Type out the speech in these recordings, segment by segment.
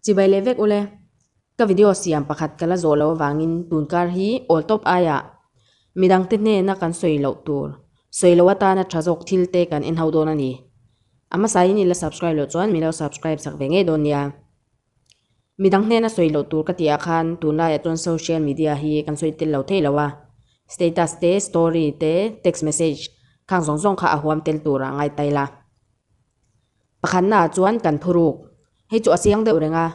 Chibai leh vek ule, ka video siam pakhat ka la zawh loh avangin tun kar hi awl tawp aia mi dangte hnena kan sawi loh tur sawi loh atana tha zawk thil te kan en ho dawn a ni. A hmasain i la subscribe loh chuan mi lo subscribe chak ve ngei dawn nia. Midang hnena sawi loh tur ka tih ah khan tun laiah chuan social media hi kan sawi tel lo thei lo a. Status te, story te, text message khang zawng zawng kha a huam tel tur a ngai tail a. Pakhat naah chuan kan phuruk, hei chu a chiang deuh reng a,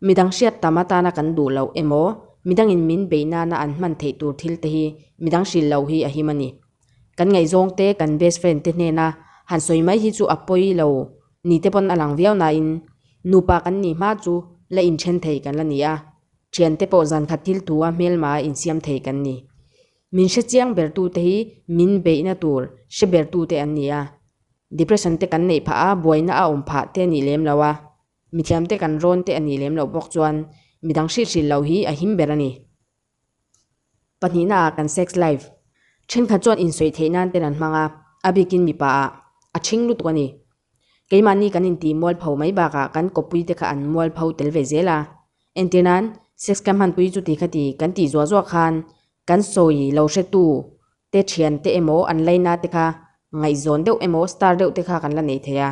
midang hriat tam atana kan duh loh emaw, midangin min beih nana an hman theih tur thil te hi midang hrilh loh hi a him a ni. Kan ngaihzawng te kan best friend te hnena han sawi mai hi chu a pawi lo Ni te pawn a lang viau nain nupa kan nih hma chu la inthen thei kan la ni a, thian te pawh zan khat thil thu a hmelmah insiam thei kan ni. Min hre chiang ber tu te hi min beihna tur hre ber tu te an ni a, depression te kan neih phah a buaina a awm phah te a nih lem lo a, mithiam te kan rawn te a nih lem loh bawk chuan midang hrilh hrilh loh hi a him ber a ni. Pahnihna ah kan sex life thenkhat chuan insawi theih nan ten an hmang a, a bikin mipa ah a thing lutuk a ni. Keimahni kan intih mual pho mai bakah kan kawppui te kha an mual pho tel ve zel a, entir nan sex kan hmanpui chu ti kha ti kan tih zuah zuah khan kan sawi lo hretu te thian te emaw an laina te kha ngaihzawn deuh emaw star deuh te kha kan la nei thei a.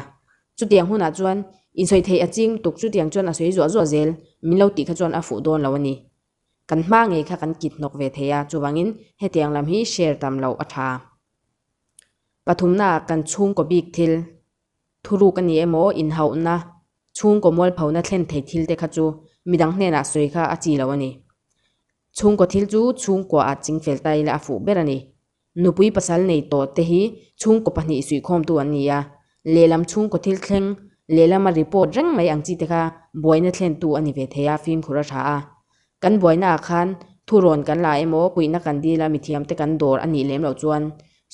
Chutiang hunah chuan insawi theih a ching lutuk chutiang chuan a sawi zuah zuah zel min lo tih kha chuan a fuh dawn lo a ni. Kan hma ngei kha kan kit hnawk ve thei a, chuvangin hetiang lam hi share tam loh a tha. Pathumnaah kan chhungkaw bik thil, thuruk a nih emaw, inhauhna, chhungkaw mualphona thlen thei thil te kha chu midang hnenah sawi kha a chi lo a ni. Chhungkaw thil chu chhungkua ah chingfel ta ila a fuh ber a ni. Nupui pasal nei tawh te hi chhungkaw pahnih suihkhawmtu an ni a, lehlam chhungkaw thil thleng, lehlama report reng mai ang chi te kha buaina thlentu a ni ve thei a fimkhur a tha a. Kan buainaah khan thurawn kan la emaw kuihna kan dil a mithiamte kan dawr a nih lem loh chuan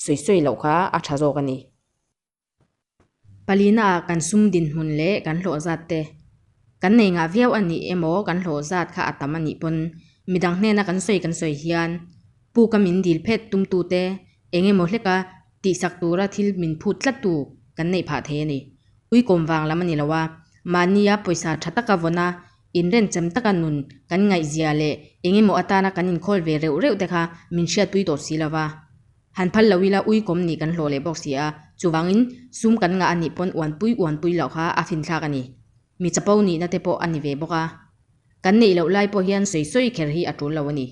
sawi sawi loh kha a tha zawk a ni. Palina ah kan sum dinhmun leh kan hlawhzat te kan nei ngah viau a nih emaw kan hlawhzat kha a tam a nih pawn. Midang hnena kan sawi kan sawi hian pu ka min dil phet tum tu te eng emaw hleka tihsak tura thil min phut tlat tu kan neih phah thei a ni. Uikawm vang lam a ni lo a, mahnia pawisa tha taka vawn a inren chem taka nun kan ngaihzia leh eng emaw atana kan inkhawl ve reuh reuh te kha min hriatpui tawh si lo va. Han phal lo ila uikawm nih kan hlawh leh bawk si a, chuvangin sum kan ngah anih pawn uanpui uanpui loh kha a finthlak a ni. Mi chapo nihna te pawh a ni ve bawk a, kan neih loh lai pawh hian sawi sawi kher hi a tul lo a ni.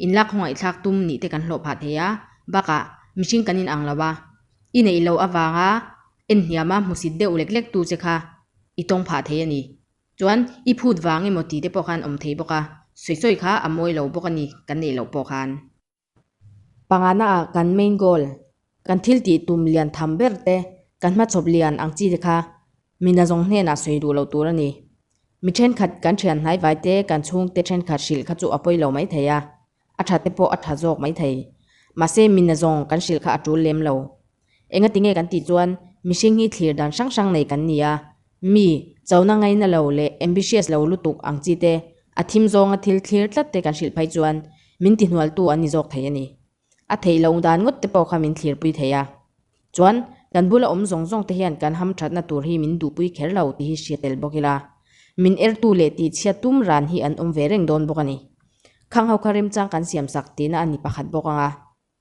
Inlak hawngaithlak tum nih te kan hlawh phah thei a, bakah mihring kan inang lo a, i neih loh avanga en hniama hmusit deuh lek lek tu che kha i tawng phah thei a ni. Chuan i phut vang emaw ti te pawh khan awm thei bawk a, sawi sawi kha a mawi lo bawk a ni kan neih loh pawh khan. Pangngai ah kan main goal, kan thil tih tum lian tham ber te, kan hmachhawp lian ang chi te kha mina zawng hnenah sawi duh lo tur a ni. Mi thenkhat kan thian hnaivai te, kan chhungte thenkhat hrilh kha chu a pawi lo mai thei a, a tha te pawh a tha zawk mai thei. Mahse mina zawng kan hrilh kha a tul lem lo. Enga tinge kan tih chuan mihring hi thlir dan hrang hrang nei kan ni a, mi chona ngaina lo leh ambitious lo lutuk ang chi te, a thim zawnga thil thlir tlat te kan hrilh phai chuan min tihnual tu an ni zawk thei a ni. A theih loh dan ngawt te pawh kha min thlir pui thei a, chuan kan bula awm zawng zawng te hian kan ham thatna tur hi min duh pui kher lo tih hi hria tel bawk ila, min er tu leh tih chhiat tum ran hi an awm ve reng dawn bawk a ni. Khang ho kha remchang kan siam sak tihna a ni pakhat bawk ang a.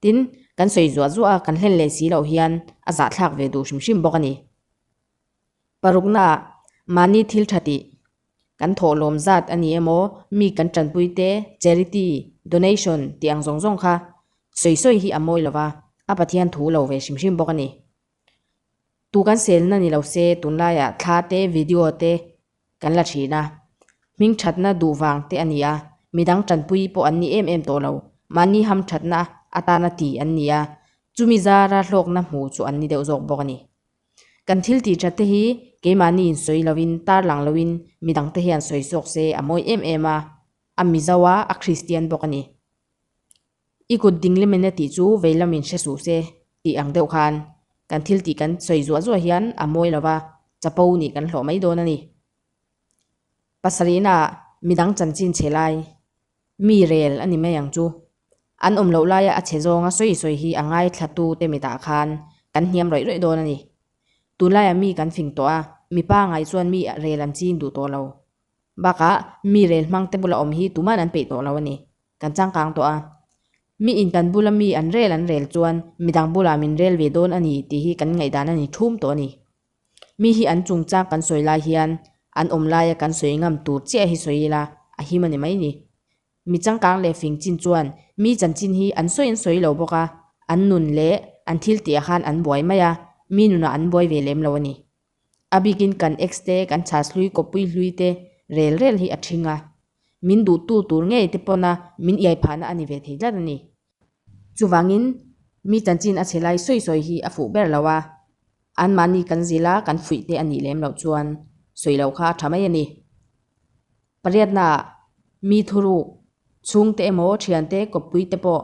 Tin, kan sawi zuah zuah a, kan hlen leh si loh hian a zahthlak ve duh hrim hrim bawk a ni. Paruknaah mahni thil tha tih kan thawh lawm zat a ni emaw, mi kan tanpui te, charity, donation tih ang zawng zawng kha sawi sawi hi a mawi lo va, a Pathian thu lo ve hrim hrim bawk a ni. Tu kan selna ni lo se, tunlaiah thla te, video te kan la thin a, hming thatna duh vang te a ni a, midang tanpui pawh an ni em em tawh lo, mahni ham thatna atana ti an ni a, chumi zara hlawkna hmu chu an ni deuh zawk bawk a ni. Kan thil tih thatte hi keimahni in sawi lovin, tarlang loin midang te hian sawi zawk se a mawi em em a, a Mizoa, a Kristian bawk a ni. I kut ding le mena tih chu vei lamin hre suh se, tih ang deuh khan kan thil tih kan sawi zuah zuah hian a mawi lo va, chapo nih kan hlawh mai dawn a ni. Pasarihna ah midang chanchin chhe lai mi rel a ni mai ang chu. An awm loh laia a chhe zawnga sawi sawi hi a ngaithlatu te mitah khan kan hniam rawih rawih dawn a ni. Tunlaiah mi kan fing tawh a, mipa ngai chuan mi rel an chin duh tawh lo, Bakah mi rel hmang te bula awm hi tuman an peih tawh lo a ni. Kan changkang tawh a. Mi in kan bula mi an rel an rel chuan midang bula min rel ve dawn a ni tih hi kan ngaihdan a ni thum tawh a ni. Mi hi an chung chang kan sawi lai hian an awm laia kan sawi ngam tur chiah hi sawi ila a him a ni mai ni. Mi changkang leh fing chin chuan mi chanchin hi an sawi an sawi lo bawk a, an nun leh an thil tihah khan an buai mai a, mi nunah an buai ve lem lo a ni. A bikin kan ex te, kan chhas hlui, kawppui hlui te rel rel hi a thing a, min duhtu tur ngei te pawna min iai phahna a ni ve thei tlat a ni. Chuvangin, mi chanchin a che lai sawi sawi hi a fuh ber lo a, anmahni kan zil a kan fuih te a nih lem loh chuan sawi lo kha a tha mai a ni. Pariatnaah, mi thuruk chhungte emaw thiante kawppuite pawh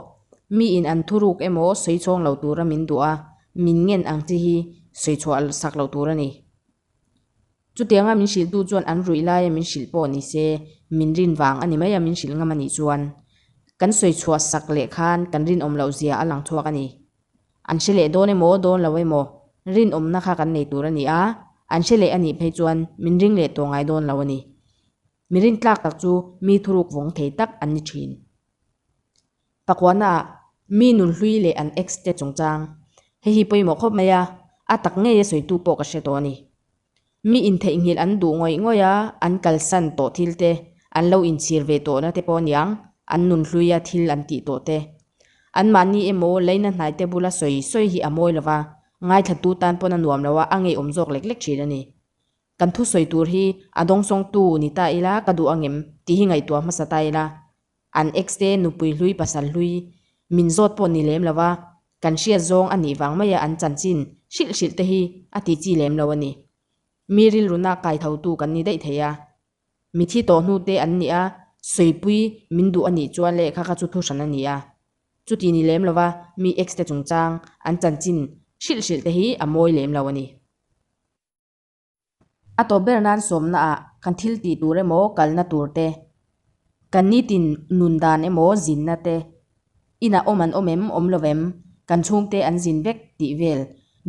miin an thuruk emaw sawi chhawng lo tura min duah a, min ngen ang chi hi sawi chhuah sak lo tur a ni. Chutianga min hrilhtu chuan an ruih laia min hrilh pawh ni se, min rin vang a ni mai a, min hrilh ngam a nih chuan kan sawi chhuah sak leh khan kan rinawm loh zia a lang chhuak a ni. An hre leh dawn emaw dawn lo emaw rinawmna kha kan nei tur a ni a, an hre leh a nih phei chuan min ring leh tawh ngai dawn lo a ni. Mi rintlak tak chu mi thuruk vawng thei tak an ni thin. Pakuanaah mi nun hlui leh an ex te chungchang, hei hi pawimawh khawp mai a, a tak ngei a sawitu pawh ka hre tawh a ni. Mi intheihnghilh an duh ngawih ngawih a, an kalsan tawh thil te, an lo inchhir ve tawh na te pawh niang, an nun hlui a thil an tih tawh te. Anmahni emaw Leina hnaite bula sawi sawi hi a mawi lo va, ngaithlatu tan pawn a nuam lo a, a ngeiawm zawk lek lek thin a ni. Kan thusawi tur hi a dawngsawngtu ni ta ila ka duh angem tih hi ngaihtuah hmasa ta ila An ex te nupui hlui pasal hlui min zawt pawh ni lem lo va, kan hriat zawng a nih vang mai a an chanchin hrilh hrilh te hi a ti chi lem lo a ni. Mi rilrun a kai tho tu kan ni daih thei a, mithi tawh hnu te an ni a, sawipui min duh a nih chuan leh kha kha chu thu hran a ni a, chu ti ni lem lo va, mi ex te chungchang an chanchin hrilh hrilh te hi a mawi lem lo a ni. A tawp ber nan sawmnaah kan thil tih tur emaw kalna tur te, kan nitin nun dan emaw zinna te, inah awm an awm em, awm lo em, kan chhungte an zin vek tih vel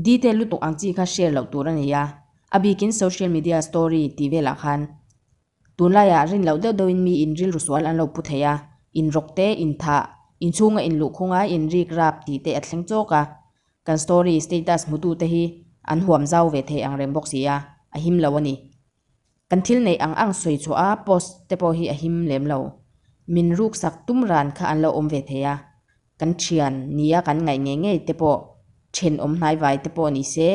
detail lutuk ang chi kha share loh tur a ni a, a bikin social media story tih velah khan Tunlaiah rin loh deuh deuhin mi in rilru sual an lo pu thei a, in rawk te, in thah, in chhunga in luh khunga in rik rap tih te a thleng chawk a. Kan story, status hmutu te hi an huam zau ve thei ang reng bawk si a, a him lo a ni. Kan thil neih ang ang sawi chhuah a post te pawh hi a him lem lo. Min ruksak tum ran kha an lo awm ve thei a, kan thian nia kan ngaih ngei ngei te pawh, thenawm hnai vai te pawh ni se,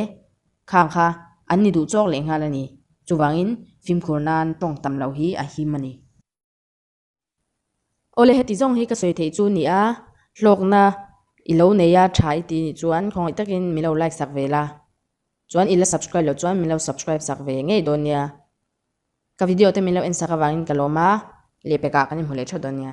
Khang kha an ni duh chawk leh nghal a ni. Chuvangin fimkhur nan tawng tam lo hi a him a ni. Awle heti zawng hi ka sawi theih chu ni a, hlawkna i lo nei a tha i ti nih chuan khawngaih takin min lo like sak ve la, chuan i la subscribe loh chuan min lo subscribe sak ve ngei dawn nia. Ka video te min lo en sak avangin ka lawm a, lehpekah kan inhmu leh tha dawn nia.